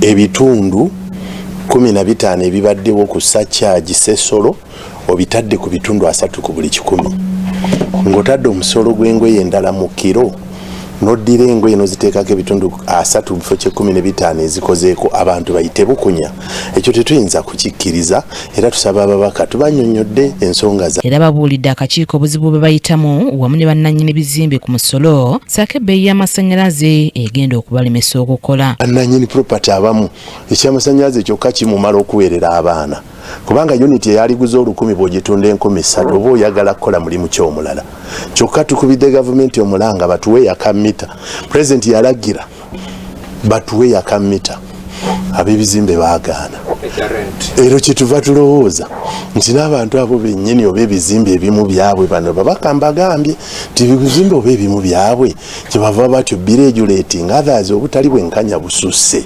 ebitundu kumi na bitaano ebibaddewo ku sakyagi sesolo obitadde ku bitundu asatu ku buli kikumi ng'otadde omusolo gw'engoye endala mu kiro noddira engoye noziteekako ebitundu asatu bifo kyekumi nebitaano ezikozeeko abantu bayite bukunya ekyo tetuyinza kukikkiriza era tusaba ababaka tubanyonyodde ensonga za era babuulidde akakiiko obuzibu bwe bayitamu wamu ne bannanyini bizimbe ku musolo saako ebbeeyi y'amasannyalaze egenda okubalemesa okukola bannanyini propati abamu ekyamasannyalaze kyokka kimumala okuweerera abaana kubanga uniti eyaliguza olukumi bwogitunda enkumi ssatu oba oyagala kukola mulimu kyomulala kyokka tukubidde gavumenti omulanga batuwe yaka mita pulezidenti yalagira batuwe yakamita abebizimbe bagaana ero kyetuva tulowooza nti n'abantu abo benyini oba ebizimbe ebimu byabwe bano babakamba agambye nti ebizimbe oba ebimu byabwe kyebava batyo biregulating others obutali bwenkanya bususse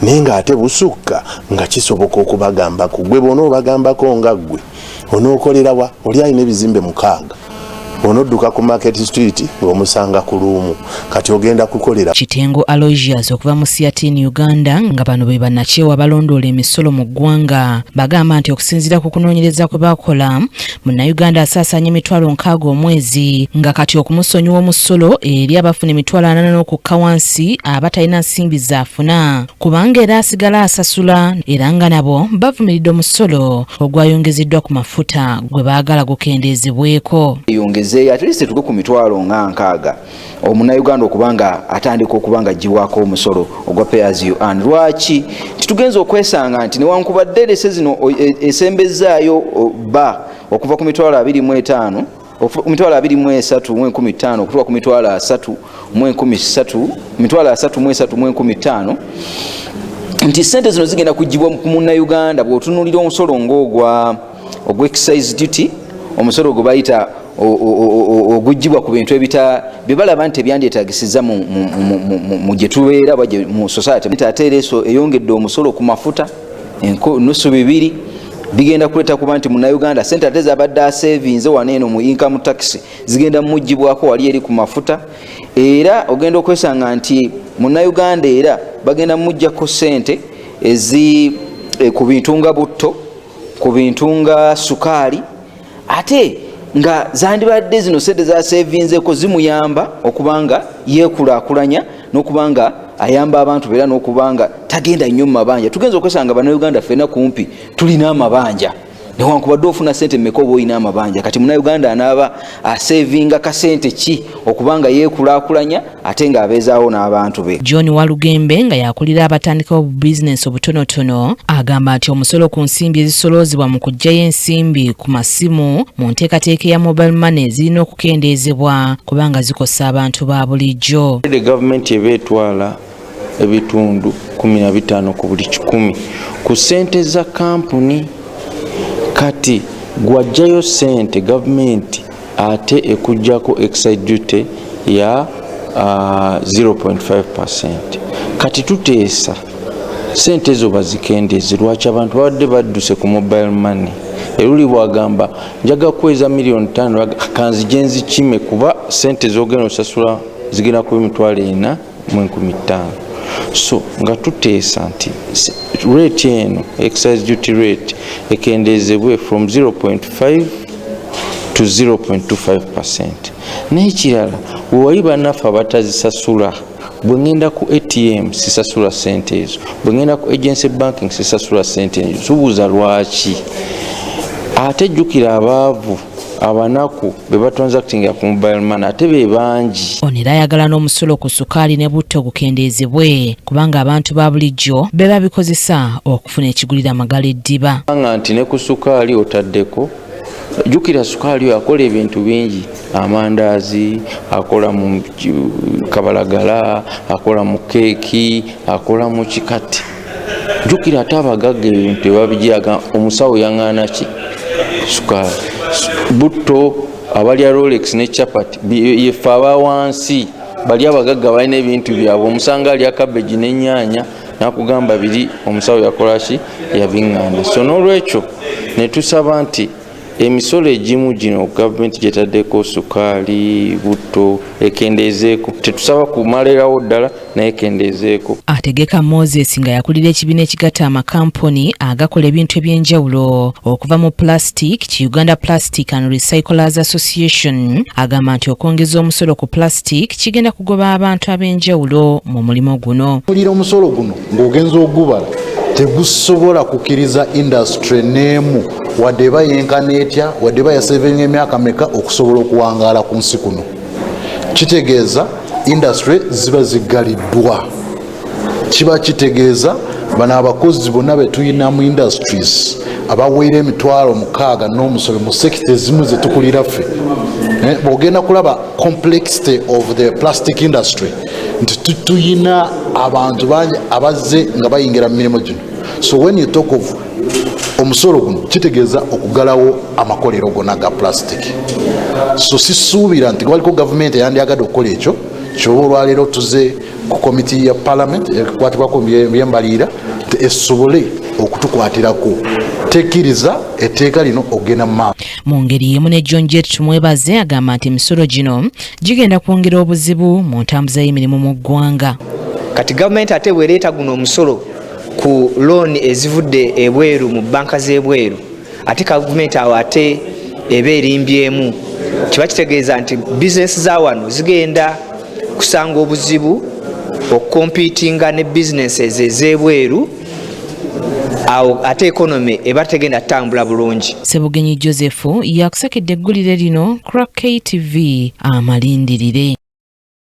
naye nga ate busukka nga kisoboka okubagambako gwe bona obagambako nga ggwe onookolera wa oli alina ebizimbe mukaaga onodduka ku market street ng'omusanga ku luumu kati ogenda kukolera kitengo alogias okuva mu siatin uganda nga bano be banakyewa balondoola emisolo mu ggwanga bagamba nti okusinziira ku kunoonyereza kwe bakola munnayuganda asaasaanya emitwalo nkaaga omwezi nga kati okumusonyiwa omusolo eri abafuna emitwalo anana n'okukka wansi abatalina nsimbi zaafuna kubanga era asigala asasula era nga nabo bavumiridde omusolo ogwayongezeddwa ku mafuta gwe baagala gukendeezebweko eyongezeeyo at least etuke ku mitwalo nga nkaaga omunauganda okuba nga atandika okuba nga aggyibwako omusolo ogwa payers you earn lwaki titugenza okwesanga nti newankubadde lese zino e, esembezzaayo ba okuva ku mitwalo abiri mu etaano mitwalo abiri mu esatu mu enkumi ttaano okutuuka ku mitwalo asatu mu enkumi satu mitwalo asatu mu esatu mu enkumi ttaano nti sente zino zigenda kugibwa ku munnauganda bwotunulira omusolo ngaogwa ogwa excise duty omusolo gwe bayita ogugibwa ku bintu ebita byebalaba nti ebyandyetagisiza mu gyetubeera mu society ate era eso eyongedde omusolo ku mafuta nusu bibiri bigenda kuleta kuba nti munauganda sente ate zabadde asevinze wano eno mu income tax zigenda mumugibwako wali eri ku mafuta era ogenda okwesanga nti munauganda era bagenda mumugjako sente ezi eh, ku bintu nga butto ku bintu nga sukaali ate nga zandibadde zino sente zasevinzeko zimuyamba okubanga yekulakulanya nokubanga ayamba abantu beera nokubanga tagenda nnyo mumabanja tugenza okwesanga banauganda fena kumpi tulina amabanja newankubadde ofuna sente meka oba olina amabanja kati munauganda anaaba asevinga kasente ki okubanga yekulakulanya ate ng'abeezaawo n'abantu be. John Walugembe nga yakulira abatandikawo bu bizinensi obutonotono agamba nti omusolo ku nsimbi ezisoloozebwa mu kuggyayo ensimbi ku masimu mu nteekateeka eya mobile money zirina okukendeezebwa kubanga zikosa abantu ba bulijjo. Gavumenti eba etwala ebitundu kumi na bitaano ku buli kikumi ku ssente za kampuni kati gw'aggyayo ssente gavumenti ate ekujjako excise duty ya uh, 0.5 percent kati tuteesa sente ezo bazikendeze lwaki abantu babadde badduse ku mobile money eruli bwagamba njaga kukweza miliyoni tano kanzije nzikime kuba sente zogenda osasula zigenda kuba emitwalo ena mu enkumi ttaano so nga tuteesa nti rate eno exercise duty rate ekendeezebwe from 0.5 to 0.25 percent naye kirala wewali banaffe abatazisasula bwe ŋŋenda ku atm sisasula sente ezo bwe ŋŋenda ku agency banking sisasula sente ezo subuuza lwaki ate jjukira abaavu abanaku bebatransactinga ku mobile man ate bebangi ono era ayagala n'omusulo ku sukaali ne butto gukendeezebwe kubanga abantu ba bulijjo be babikozesa okufuna ekigulira magala eddiba nga nti ne ku sukaali otaddeko jukira sukaali oyo akola ebintu bingi amandaazi akola mu kabalagala akola mu keeki akola mu kikati jukira ate abagagga ebintu tebabijaga omusawo yaŋana ki sukaali butto abalya rolex ne chapat yefe aba wansi bali abagagga balina ebintu byabwe omusanga alya kabeji nenyanya nakugamba biri omusawo yakolaki yabiŋana so nolwekyo netusaba nti emisolo egimu gino gavumenti gyetaddeko sukaali butto ekendeezeeko tetusaba kumalirawo ddala naye kendeezeeko ategeka moses nga yakulira ekibiina ekigatta amakampuni agakola ebintu eby'enjawulo okuva mu plastic ki uganda plastic and recyclers association agamba nti okwongeza omusolo ku plastic kigenda kugoba abantu ab'enjawulo mu mulimu guno kulira omusolo guno ng'ogenza ogubala tegusobola kukiriza indasitule n'emu wadde eba yenkana etya wadde eba yasevinga emyaka meka okusobola okuwangaala ku nsi kuno kitegeeza industry ziba ziggaliddwa kiba kitegeeza bano abakozi bonna betulina mu industries abaweera emitwalo mukaaga n'omusobe mu sekita ezimu zetukulira ffe eh, bwogenda kulaba complexity of the plastic industry nti tuyina abantu bangi abazze nga bayingira mu mirimu gino so when you talk of omusolo guno kitegeeza okugalawo amakolero gona ga plastic so sisuubira nti lwaliko gavumenti eyandyagadde okukola ekyo kyoba olwaleero tuze ku komiti ya palamenti ekwatibwako byembaliira esobole okutukwatirako tekiriza etteeka lino okugenda mu maaso mu ngeri yemu ne john jet tumwebaze agamba nti emisolo gino gigenda kwongera obuzibu mu ntambuza y'emirimu mu ggwanga kati gavumenti ate bwereeta guno omusolo ku looni ezivudde ebweru mu banka z'ebweru ate gavumenti awo ate eba erimbyemu kiba kitegeeza nti bizinesi za wano zigenda kusanga obuzibu okukompitinga ne bizinesi ezo ez'ebweru awo ate ekonome eba tegenda kutambula bulungi sebugenyi joseph yakusakedde eggulire lino crack ktv amalindirire